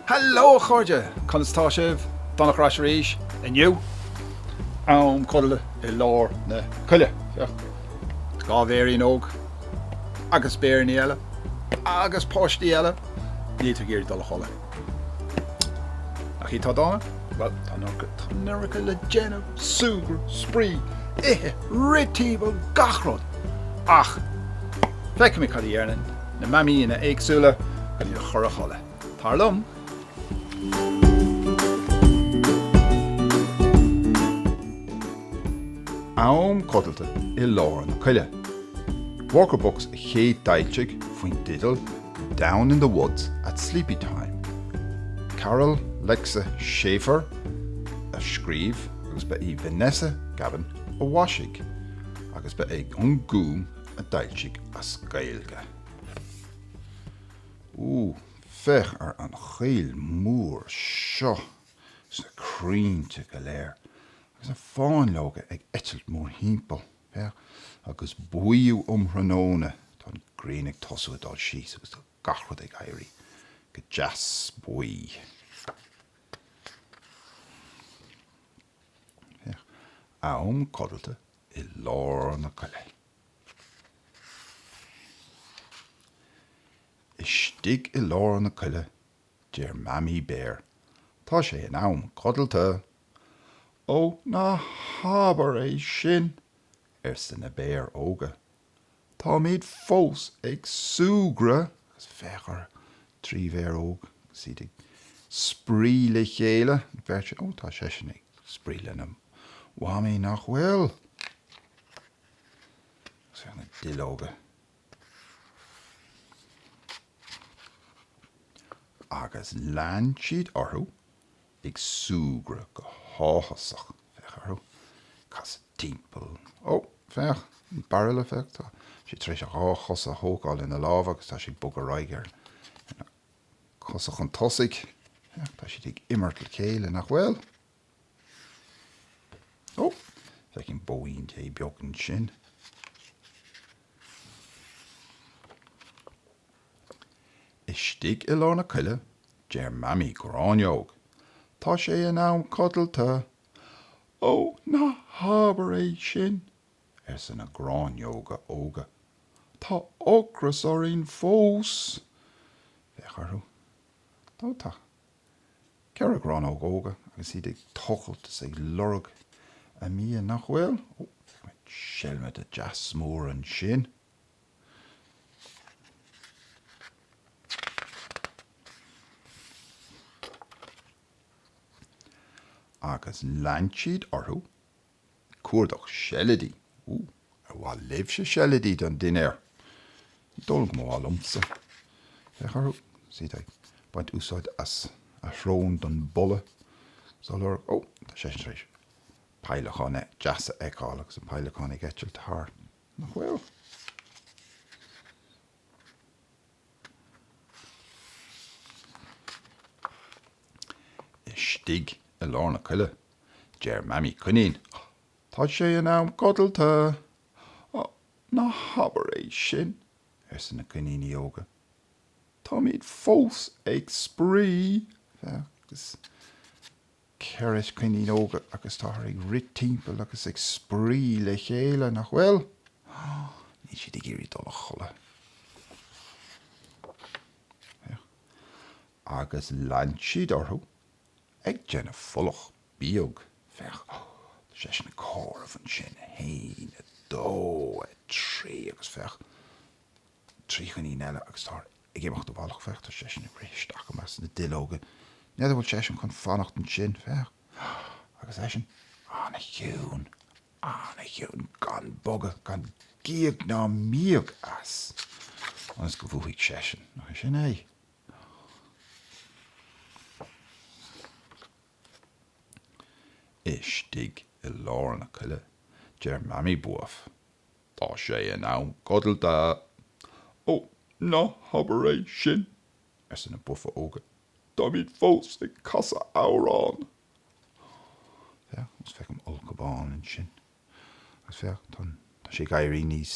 Heileo a chairde! Conas atá sibh? Donncha ar ais arís inniu. Am codlata i lár na coille. Féach, dhá bhéirín óg agus béiríní eile agus páistí eile, níl siad ag iarraidh dul a chodladh. Nach iad atá dána? Bhuel, tá an iomarca, tá an iomarca le déanamh, súgradh, spraoi, ithe, rith timpeall, gach rud. Ach, feicfimid cad a dhéanann na mamaíonna éagsúla chun iad a chur a chodladh. Tar liom! Am codlata i lár na coille. Walker Books a chéadfhoilsigh faoin dteideal Down in the Woods at Sleepytime. Carole Lexa Schaefer a scríobh agus ba í Vanessa Cabban a mhaisigh agus ba é An Gúm a d'fhoilsigh as Gaeilge. Ooh, féach ar an choill mhór seo is na crainnte go léir agus na fáinleoga ag eitilt mórthimpeall. Féach, agus buíú um thráthnóna, tá an ghrian ag tosú ag dul síos agus tá gach rud ag éirí go deas buí. Féach, am codlata i lár na coille. Istigh i lár na coille Deir Mamaí Béar, Tá sé in am codlata. Ó, ná habair é sin! arsa na béir óga. Táimid fós ag súgradh! Agus féach orthu, trí bhéar óg agus iad ag spraoi le chéile. An bheirt sin, ó, tá seisean ag spraoi lena Mhamaí, nach bhfuil? Agus féach na duilleoga. Agus lean siad orthu ag súgradh go háthasach, féach orthu, casadh timpeall, ó, féach, an bairille, féach, tá sé tar éis a dhá chosa a thógáil ina lámha agus tá sé ag bogadh ar aghaidh ar na cosa chun tosaigh, féach, tá siad ag imirt le chéile, nach bhfuil? Ó, feicim bóín Dé beag ansin. Istigh i lár na coille, deir Mamaí Gráinneog, Tá sé in am codlata! Ó, ná habair é sin! arsa na gráinneoga óga. Tá ocras orainn fós! Féach orthu. Ó, tá. Ceithre ghránóg óga agus iad ag tochailt is ag lorg a mbia, nach bhfuil? Ó, aimsíodh seilmide deas mór ansin. Agus lean siad orthu. Cuardach seilidí. Ooh. Ar mhaith libhse seilidí don dinnéar? Ní dóigh liom go mba mhaith liomsa. Féach orthu. Sea, tá ag baint úsáid as a shrón don boladh á lorg. Ó, tá seisean tar éis peidhleacán deas a fheiceáil agus an peidhleacán ag eitilt thart. Nach bhfuil? Istigh i lár na coille, deir Mamaí Coinín, Tá sé in am codlata! Á, ná habair é sin! arsa na coiníní óga. Táimid fós ag spraoi! Agus. 4 coinín óga agus táthar ag rith timpeall agus ag spraoi le chéile, nach bhfuil? Níl siad ag iarraidh dul a chodladh. Féach. Agus lean siad orthu ag déanamh folach bíog. Féach. Tá seisean ag comhaireamh ansin, 1, 2, 3 agus féach. trí choinín eile agus táthar ag imeacht i bhfolach féach tá seisean tar éis dul isteach i measc sna duilleoga n'fheadar bhfuil seisean chun fanacht ansin féach agus eisean an-chiúin an-chiúin gan bogadh gan gíog ná míog as ionas go mbuafaidh seisean nach é sin é? istigh i lár na coille deir Mamaí Buaf Tá sé in am codlata. Ó, ná habair é sin! arsa na buafa óga. Táimid fós ag casadh amhrán! Féach, agus féach an ulchabhán ansin. Agus féach, tá an, tá sé ag éirí níos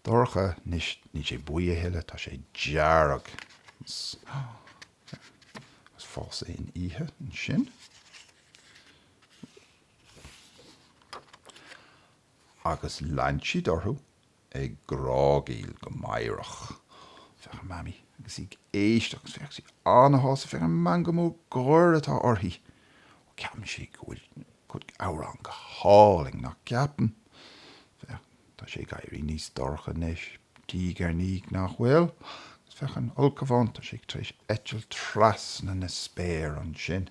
dorcha anois, níl sé buí a thuilleadh, tá sé dearg. Agus fós san oíche ansin. Agus lean siad orthu ag grágaíl go meidhreach. Féach ar Mamaí agus í ag éisteacht agus féach, tá sí an-shásta, féach an meangadh mór gáire atá uirthi. Ó, ceapann sí go bhfuil a cuid amhrán go hálainn, nach gceapann? Féach, tá sé ag éirí níos dorcha anois, diaidh ar ndiaidh, nach bhfuil? Agus féach an ulchabhán, tá sé tar éis eitilt trasna na spéire ansin.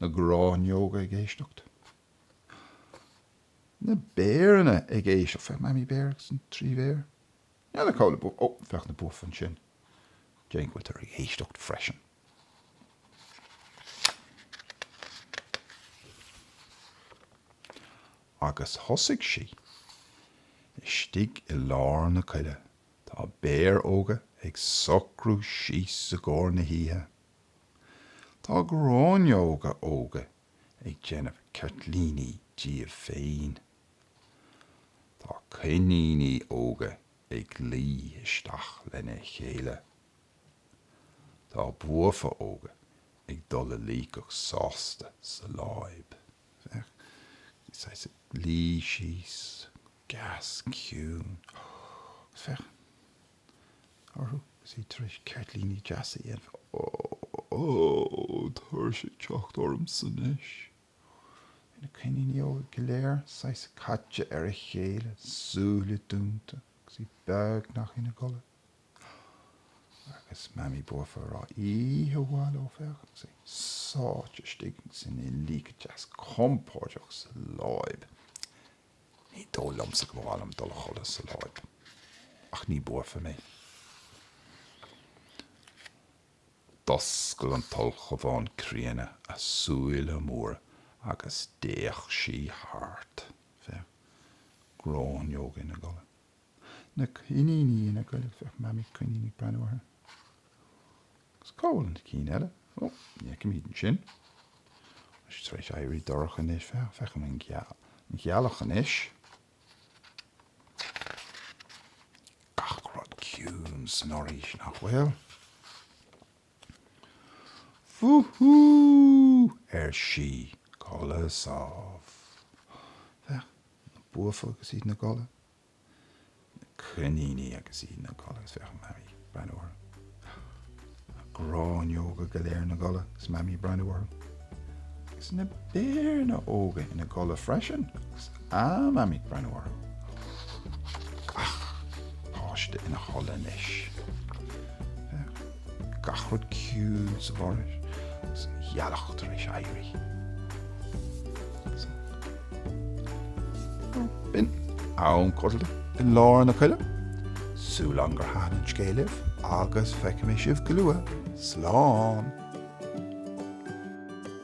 Na gráinneoga ag éisteacht. Na béireanna ag éisteacht. Féach Mamaí Béar agus na trí bhéar. Níl ina gcodladh. Buafa. Ó, féach na buafa ansin. Tá an ghealach ag éisteacht freisin. Agus thosaigh sí. Istigh i lár na coille, tá béir óga ag socrú síos i gcomhair na hoíche. Tá gráinneoga óga ag déanamh ceirtlíní díobh féin. Tá coiníní óga ag luí isteach lena chéile. Tá buafa óga ag dul a luí go sásta sa láib. Féach, is iad ina luí síos, go deas ciúin. Féach. orthu is iad tar éis ceirtlíní deasa a dhéanamh. Tá tuirse ag teacht ormsa anois. Féach na coiníní óga go léir saghas caite ar a chéile, súile dúnta agus iad beagnach ina gcodladh. Agus Mamaí buaf ag rá, Oíche mhaith leo, féach, agus iad sáite istigh is ina luí go deas compordach sa láib. Ní dóigh liomsa go mba mhaith liom dul a chodladh sa láib, ach ní buaf mé. D'oscail an t-ulchabhán críonna a súile móra agus d'fhéach sí thart. Féach. Gráinneoga ina gcodladh. na coiníní ina gcodladh. Féach Mamaí Coinín ag breathnú orthu. Agus cá bhfuil na cinn eile? Ó, ní fheicimid iad sin. Tá sí tar éis éirí dorcha anois. Feicim an ghealach anois. Gach rud ciúin san fhoraois, nach bhfuil? Wúhú! ar sí. Codladh sámh. Féach, na buafa agus iad ina gcodladh. na coiníní agus iad ina gcodladh is féach an Mamaí ag breathnú orthu. Na gráinneoga go léir ina gcodladh is Mamaí ag breathnú orthu. Agus na béir óga ina gcodladh freisin is an Mamaí ag breathnú orthu. Gach páiste ina chodladh anois. gach rud ciúin sa bhforaois, an ghealach tar éis éirí. B'in am codlata i lár na coille. Tá súil agam gur thaithin an scéal libh agus feicfidh mé sibh go luath. Slán!